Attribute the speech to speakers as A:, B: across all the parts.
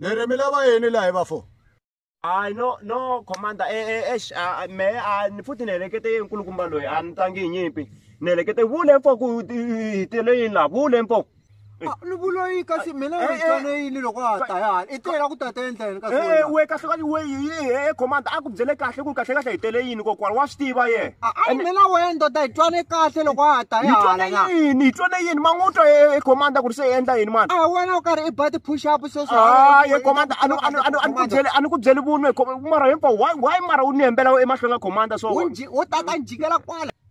A: Nere mi lava yini laha hi va fo? Hayi no
B: no commander eh eh eish me a ni futhi ni helekete yini nkulukumba loyi a ni tangi hi nyimpi ni helekete vule mfo ku hi tele yini laha vule mfo. Ah, ni vuloyi
A: kasi mina Eh, eh. mitswana yini loko a ta ya i tela ku tata endleni kasi Eh, wena? we kahle kahle we
B: e commander a ku byele kahle ku kahle kahle hi tele yini kokwana wa swi tiva ye Ah, a ni mina wena ndoda
A: hi twane kahle loko a ta hi ya twane hala na yini hi twane yini ma n'wi
B: twa e- e commander ku ri se hi endla yini mani a wena u karhi i ba
A: ti-push up sweswo Ah, ye commander
B: a ni- a ni- a ni- a ni ku byele- a ni ku byeli vunwe com- mara hinkwawo why why mara u ni hembela emahlweni ka commander so wo tata ni jikela
A: kwala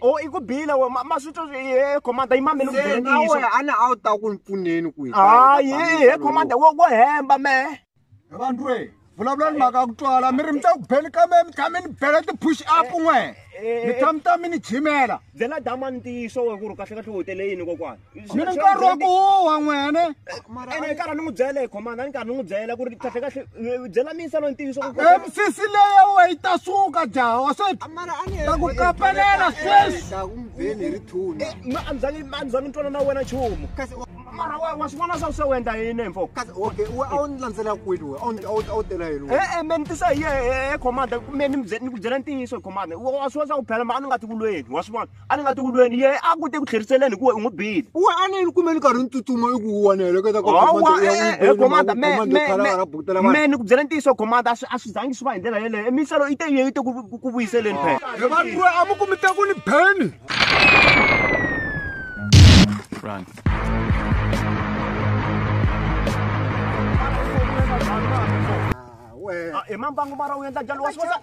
A: o i ku bile we
B: ma swi twa he commander yi mamele kunawe a na a wu ta ku ni
A: pfuneni ku hayi he commander wo wo
B: hemba me vanhu re
A: vulavula ni mhaka ku twala mi ri mi ta ku beni ka me mi tshame ni bela ti-push up n'we mi tshame ta mi ni jimela byela dama ntiyiso
B: we ku ri kahlekahle u tele yini kokwana ni ri nkarhi wa ku
A: huwa n'wene ene nkarhi ni
B: n'wi byela hi khomanda ni nkarhi ni n'wi byela ku ri kahle kahle byela misa loyi ntiyiso msisi leya
A: we yi ta suka jawa se ta ku kapelela sweswianzangi
B: ntwana na wena nchumu mara wa wa swivona swa se u endla yini mfo kasi okay we a wu ni
A: landzela kwini we a wu tela yini e-e me ni tisa hi
B: ye commander me ni ku byela ntiyiso hi commander wa swi vona swa ku phela ma a ni nga ti kulweni wa swi vona a ni nga ti ku lweni ye a ku te ku tlheriseleni hikuva u n'wi bile uwe a ni ni kume ni karhi
A: ni tsutsuma i ku wona heleketa komanda
B: me ni ku byela ntiyiso komanda a swi zangi swi va hi ndlela yeleyo emiselo i te yi yi te ku vuyiseleni phela vanruwe a mi kumi
A: ta ku ni beni
C: Run. Ah,
B: we. Ah, emang bangun marah yang tak jalan was-was.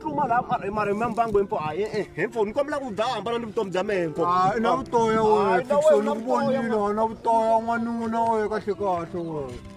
A: tluma
B: la mara mara mi mbangu himpo a eh eh himpo ni kombela ku dzaha hambana ni vutomi bya mehe himpo hayi na vutoya Hayi,
A: wena na wena fikisoni ku vutoya, vonile na vutoya n'wanuna wena kahle kahle wena